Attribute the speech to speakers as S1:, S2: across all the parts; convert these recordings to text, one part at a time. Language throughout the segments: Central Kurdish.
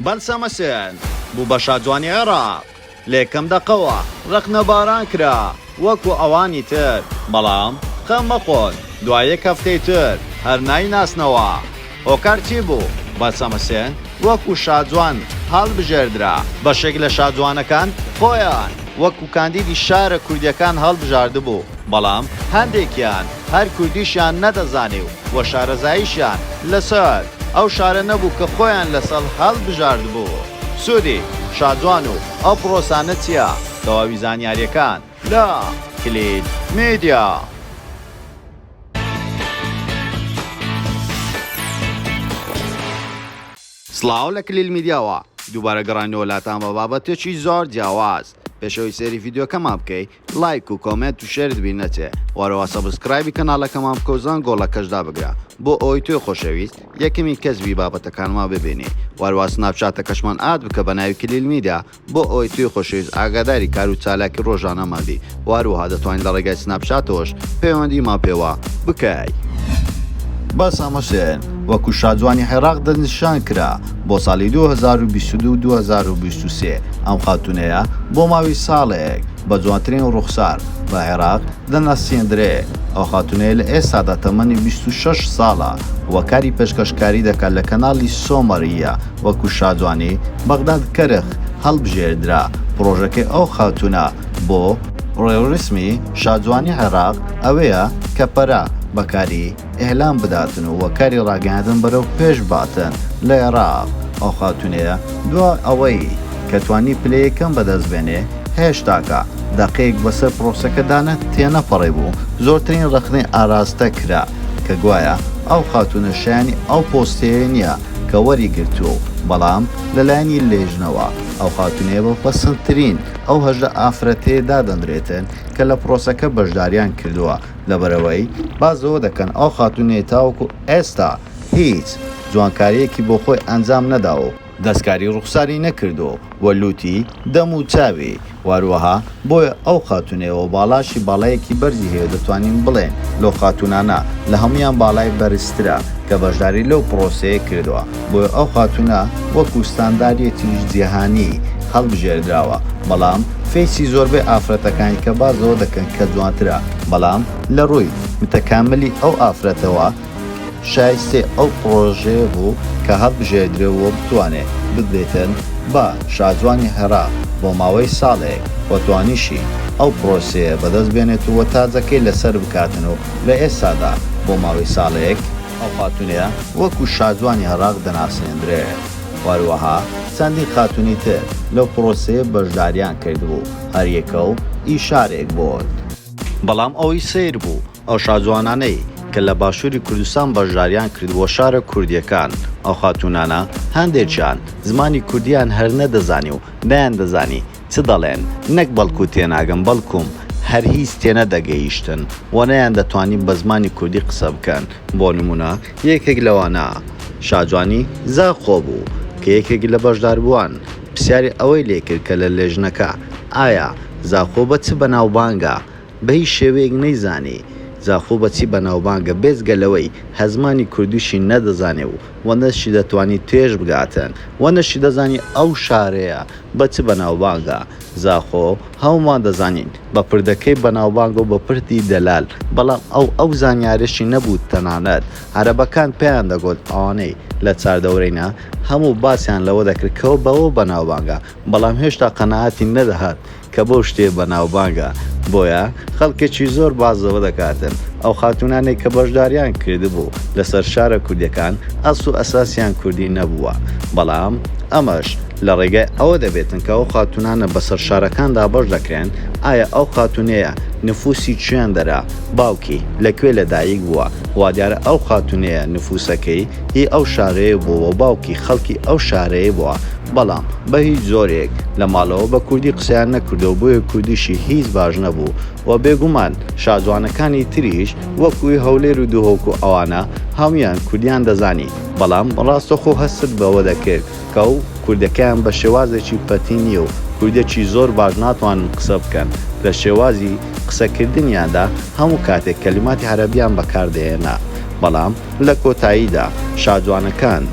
S1: بەلسەمە سێن بوو بە شاجوانی عێراق، لە یەکەم دەقەوە رەخنەباران کرا وەکو ئەوانی تر، بەڵام خەم مەخۆن دوای یەک هەفتەی تر هەر نایناسنەوە هۆکار چی بوو، بەلسەمە سێن وەکو شاجوان هەڵبژێردرا، بەشێک لە شاجوانەکان خۆیان وەکو کاندیدی شارە کوردییەکان هەڵبژاردبوو. بەڵام هەندێکیان هەر کوردیشیان نەدەزانی و وە شارەزاییشیان لە سەر ئەو شارە نەبوو کە خۆیان لە سەڵ هەڵبژاردبوو. سوودی شاجوان و ئەو پڕۆسانە چیە؟ تەواوی زانیاریەکان لە، کلید میدیا. سڵاو لە کلیل میدیاوە دووبارە گەڕاینەوە لاتان بە بابەتێکی زۆر جیاواز پێشەوەی سەیری ڤیدیۆکەمان بکەی لایک و کۆمێنت و شێرت بیر نەچێ وەرەوە سەبسکرایبی کەناڵەکەمان بکە و زەنگۆڵەکەش دابگرە بۆ ئەوەی تۆی خۆشەویست یەکەمین کەس بی بابەتەکانمان ببینی وەروا سناپچاتەکەشمان ئاد بکە بە ناوی کلیل میدیا بۆ ئەوەی توی خۆشەویست ئاگاداری کار و چالاکی ڕۆژانەمان بی وەروەها دەتوانی لە ڕێگای سناپچاتەوەش پەیوەندیمان پێوە بکەی. بەس ئەمە شێن وەکو شاجوانی حێراق دەستنیشان کرا بۆ ساڵی دوو هەزار و بیست و دوو دوو هەزار و بیست و سێ ئەم خاتوونەیە بۆ ماوی ساڵێک بە جوانترین ڕووخسار بە عێراق دەناسێندرێ ئەو خاتوونەیە لە ئێستادا تەمەنی بیست و شەش ساڵە و کاری پێشکەشکاری دەکات لە کەناڵی سۆمەر ی وەکو شاجوانی بەغداد کەرخ هەڵبژێردرا پڕۆژەکەی ئەو خاتوونە بۆ ڕێوڕسمی شاجوانی عێراق ئەوەیە کە پەرە بە کاری. ئیلام بداتن و کاری ڕاگەیاندن بەرەو پێش باتن لە ئێراق، ئەو خاتوونەیە دوا ئەوەی کە توانی پلەی یەکەم بەدەست بێنێ هێشتاکە دەقێک بەسەر پرۆسەکەدا نە تێنەپەڕیبوو زۆرترین ڕەخنەی ئاراستە کرا کە گوایە ئەو خاتوونە شایەنی ئەو پۆستەیە نییە کە وەری گرتووە و بەڵام لە لایەنی لێژنەوە ئەو خاتوونەیە بە پەسندترین ئەو هەژدە ئافرەتەیە دادەنرێتن کە لە پرۆسەکە بەشداریان کردووە لەبەرئەوەی باس لەوە دەکەن ئەو خاتوونەی تاوەکو ئێستا هیچ جوانکارییەکی بۆ خۆی ئەنجام نەداوە و دەستکاری ڕووخساری نەکردووە و لووتی دەم و چاوی و هەروەها بۆیە ئەو خاتوونەی و باڵاشی باڵایەکی بەرزی هەیە و دەتوانین بڵێین لەو خاتوونانە لە هەموویان باڵای بەرزترە کە بەشداری لەو پڕۆسەیە کردووە. بۆیە ئەو خاتوونە وەکو ستانداریێتیش جیهانی هەڵبژێردراوە بەڵام فەیسی زۆربەی ئافرەتەکانی کە باس لەوە دەکەن کە جوانترە بەڵام لە ڕووی متەکاملی ئەو ئافرەتەوە شایستەی ئەو پڕۆژەیە بوو کە هەڵبژێردرێ و بتوانێ بدرێتن بە شاجوانی هەرا بۆ ماوەی ساڵێک و توانیشی ئەو پڕۆسەیە بەدەست بێنێت و تاجەکەی لەسەر بکاتن و لە ئێستادا بۆ ماوەی ساڵێک ئەو خاتوونەیە وەکو شاجوانی عێراق دەناسێندرێت و هەروەها چەندین خاتوونی تر لەو پرۆسەیە بەشداریان کردبوو، هەریەکە و ئی شارێک بوون. بەڵام ئەوەی سەیر بوو ئەو شاجوانانەی کە لە باشووری کوردستان بەشداریان کردبووە شارە کوردییەکان، ئەو خاتوونانە هەندێکیان زمانی کوردییان هەر نەدەزانی و نەیاندەزانی چ دەڵێن نەک بەڵکو تێناگەن بەڵکوم هەر هیچ تێنەدەگەیشتن و نەیاندەتوانی بە زمانی کوردی قسە بکەن بۆ نمونە یەکێک لەوانە شاجوانی زاخۆ بوو کە یەکێک لە بەشداربووان پرسیاری ئەوەی لێکرد کە لە لێژنەکە ئایا زاخۆ بە چ بەناوبانگە بەهیچ شێوەیەک نەیزانی زاخۆ بەچی بەناوبانگە بێجگە لەوەی هەزمانی کوردیشی نەدەزانێ و وە نەشی دەتوانی توێژ بگاتن وە نەشی دەزانی ئەو شارەیە بە چ بەناوبانگە زاخۆ هەومان دەزانین بە پردەکەی بەناوبانگە و بە پردی دەلال بەڵام ئەو ئەو زانیارەشی نەبوو تەنانەت عەرەبەکان پێیان دەگۆت ئەوانەی لە چاردەورەینە هەموو باسیان لەوە دەکرد کەوە بەوە بەناوبانگە بەڵام هێشتا قەناعەتی نەدەهات کە بەو شتێ بەناوبانگە بۆیە خەڵکێکی زۆر باس لەوە دەکاتن ئەو خاتوونانەی کە بەشداریان کردبوو لەسەر شارە کوردیەکان ئەسڵ و ئەساسیان کوردی نەبووە بەڵام ئەمەش لە ڕێگای ئەوە دەبێتن کە ئەو خاتوونانە بەسەر شارەکان دابەش دەکرێن ئایا ئەو خاتوونەیە نفوسی چیاندەرە باوکی لە کوێ لە دایک بووە وادیارە ئەو خاتوونەیە نفوسەکەی هی ئەو شارەیە بووەو باوکی خەڵکی ئەو شارەیە بووە بەڵام بە هیچ جۆرێک لە ماڵەوە بە کوردی قسەیان نەکردووە بۆیە کوردیشی هیچ باش نەبوو و بێگومان شاجوانەکانی تریش وەکوی هەولێر و دهۆک و ئەوانە هەموویان کوردیان دەزانی بەڵام ڕاستەخۆ هەستت بەوە دەکرد کە و کوردەکەیان بە شێوازێکی پەتی نییە و کوردێکی زۆر باش ناتوانن قسە بکەن لە شێوازی قسەکردنیاندا هەموو کاتێک کەلیماتی عەرەبیان بەکار دەهێنا بەڵام لە کۆتاییدا شاجوانەکان،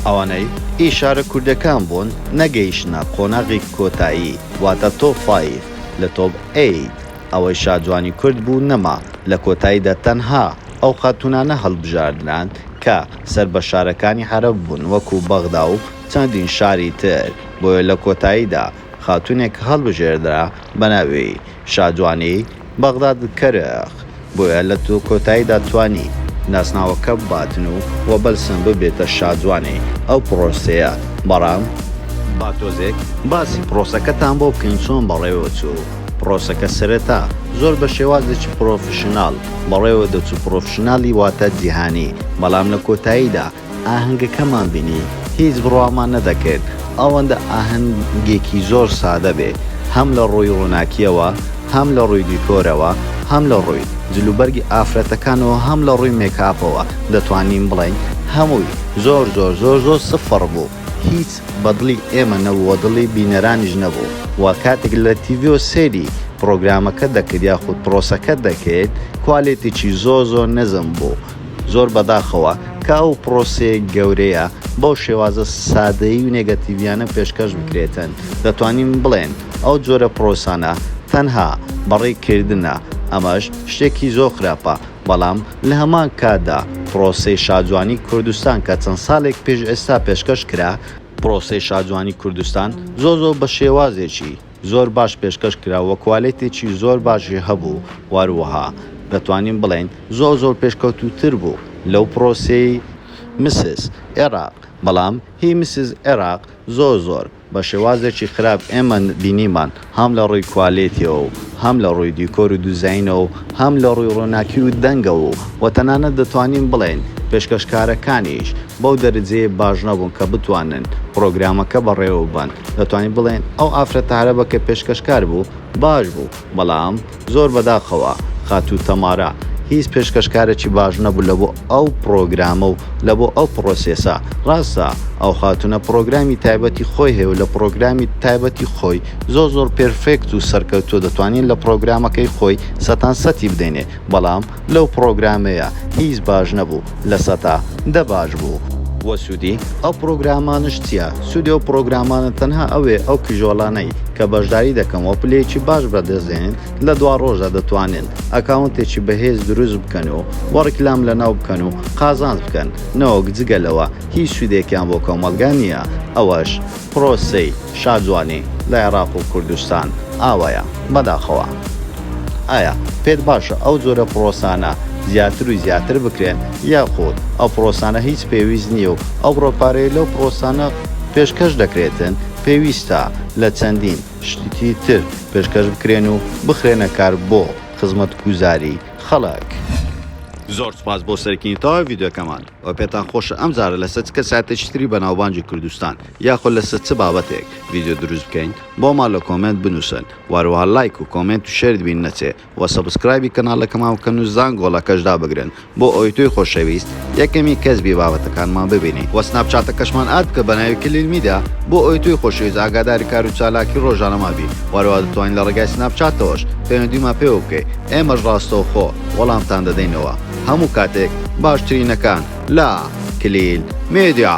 S1: ئەوانەی ئی شارە کوردەکان بوون نەگەیشتنە قۆناغی کۆتایی واتە تۆپ فایڤ لە تۆپ ئەیت ئەوەی شاجوانی کورد بوو نەما لە کۆتاییدا تەنها ئەو خاتوونانە هەڵبژاردران کە سەر بە شارەکانی عەرەب بوون وەکو بەغدا و چەندین شاری تر بۆیە لە کۆتاییدا خاتوونێک هەڵبژێردرا بە ناوی شادوانی، بەغداد کەرخ، بۆیە لە کۆتاییدا توانی ناسناوەکە باتنو و بەلسم ببێتە شادوانی ئەو پرۆسەیە، بەڵام، با تۆزێک باسی پرۆسەکەتان بۆ بکەین چۆن بەڕێوە چوو پرۆسەکە سەرەتا زۆر بە شێوازێکی پرۆفیشناڵ بەڕێوە دەچوو پرۆفیشناڵی واتە جیهانی بەڵام لە کۆتاییدا ئاهەنگەکەمان بینی هیچ بڕوامان نەدەکرد ئەوەندە ئاهەنگێکی زۆر سادە بێ هەم لە ڕووی ڕووناکیەوە هەم لە ڕووی دیکۆرەوە هەم لە ڕووی جلوبەرگی ئافرەتەکانەوە هەم لە ڕووی مێکاپەوە دەتوانین بڵێین هەمووی زۆر زۆر زۆر زۆر سفڕ بوو هیچ بە دڵی ئێمە نەبوو و دڵی بینەرانیش نەبوو و کاتێک لە تیڤیەوە سەیری پڕۆگرامەکە دەکرد یاخود پڕۆسەکە دەکرد کوالێتیی زۆر زۆر نزم بوو. زۆر بەداخەوە کە ئەو پرۆسەیە گەورەیە بەو شێوازە سادەیی و نێگەتیڤیانە پێشکەش بکرێتن، دەتوانین بڵێن ئەو جۆرە پرۆسانە تەنها بەڕێی کردنە، ئەمەش شتێکی زۆر خراپە، بەڵام لە هەمان کاتدا پرۆسەی شاجوانی کوردستان کە چەند سالێک پێش ئێستا پێشکەش کرا، پرۆسەی شاجوانی کوردستان زۆر زۆر بە شێوازێکی. زۆر باش پێشکەش کرا و کوالێتێکی زۆر باشی هەبوو و هەروەها دەتوانین بڵێین زۆر زۆر پێشکەوتووتر بوو لەو پرۆسەی مسز ئێراق بەڵام هی مسز ئێراق زۆر زۆر بە شێوازێکی خراپ ئێمە بینیمان هەم لە ڕووی کوالێتیەوە و هەم لە ڕووی دیکۆر و دوزاینەوە و هەم لە ڕووی ڕووناکی و دەنگەوە و وە تەنانەت دەتوانین بڵێین پێشکەشکارەکانیش بەو دەرەجەیە باش نەبوون کە بتوانن پرۆگرامەکە بەڕێوە ببەن دەتوانین بڵێین ئەو ئافرەتە عەرەبە کە پێشکەشکار بوو باش بوو، بەڵام زۆر بەداخەوە خاتوو تەمارا هیچ پێشکەشکارێکی باش نەبوو لە بۆ ئەو پڕۆگرامە و لە بۆ ئەو پڕۆسێسە. ڕاستە ئەو خاتوونە پڕۆگرامی تایبەتی خۆی هەیە و لە پڕۆگرامی تایبەتی خۆی زۆر زۆر پێرفێکت و سەرکەوتووە دەتوانین لە پڕۆگرامەکەی خۆی سەتانسەتی بدەینێ، بەڵام لەو پڕۆگرامەیە هیچ باش نەبوو لە سەتا دە باش بوو. وە سودی ئەو پڕۆگرامانەش چیە؟ سودی ئەو پڕۆگرامانە تەنها ئەوێ ئەو کیژۆلانەی کە بەشداری دەکەن وە پلەیەکی باش بەدەستدێنن لە دوا ڕۆژدا دەتوانن ئەکاونتێکی بەهێز دروست بکەن و وە ڕیکلام لەناو بکەن و قازانج بکەن نەوەک جگە لەوە هیچ سودێکیان بۆ کۆمەڵگا نیە ئەوەش پرۆسەی شاجوانی لە عێراق و کوردستان ئاوایە بەداخەوە. ئایا پێت باشە ئەو جۆرە پرۆسانە زیاتر و زیاتر بکرێن یاخود ئەو پرۆسانە هیچ پێویست نییە و ئەو بڕە پارەیە لەو پرۆسانە پێشکەش دەکرێتن پێویستە لە چەندین شتی تر پێشکەش بکرێن و بخرێنە کار بۆ خزمەتگوزاری خەڵک؟ زۆر سوپاس بۆ سەرکینی تەواوی ڤیدیۆکەمان. وە پێتان خۆشە ئەم جارە لەسەر چ کەسایەتێکی تری بەناوبانگی کوردستان یاخۆ لەسەر چ بابەتێک ڤیدیۆ دروست بکەین بۆمان لە کۆمێنت بنووسن وە هەروەها لایک و کۆمێنت و شێرت بیر نەچێ وە سەبسکرایبی کەناڵەکەمان بکەن و زانگۆڵەکەش دابگرن بۆ ئەوەی تۆی خۆشەویست یەکەمین کەس بی بابەتەکانمان ببینی وە سناپچاتەکەشمان ئاد بکە بە ناوی کلیل میدیا بۆ ئەوەی تۆی خۆشەویست ئاگاداری کار و چالاکی ڕۆژانەمان بی وە هەروەها دەتوانی لە ڕێگای سناپچاتەوەش پەیوەندیمان پێوە بکەی ئێمەش ڕاستەوخۆ وەڵامتان دەدەینەوە. هەموو کاتێک باشترینەکان لە کلیل میدیا.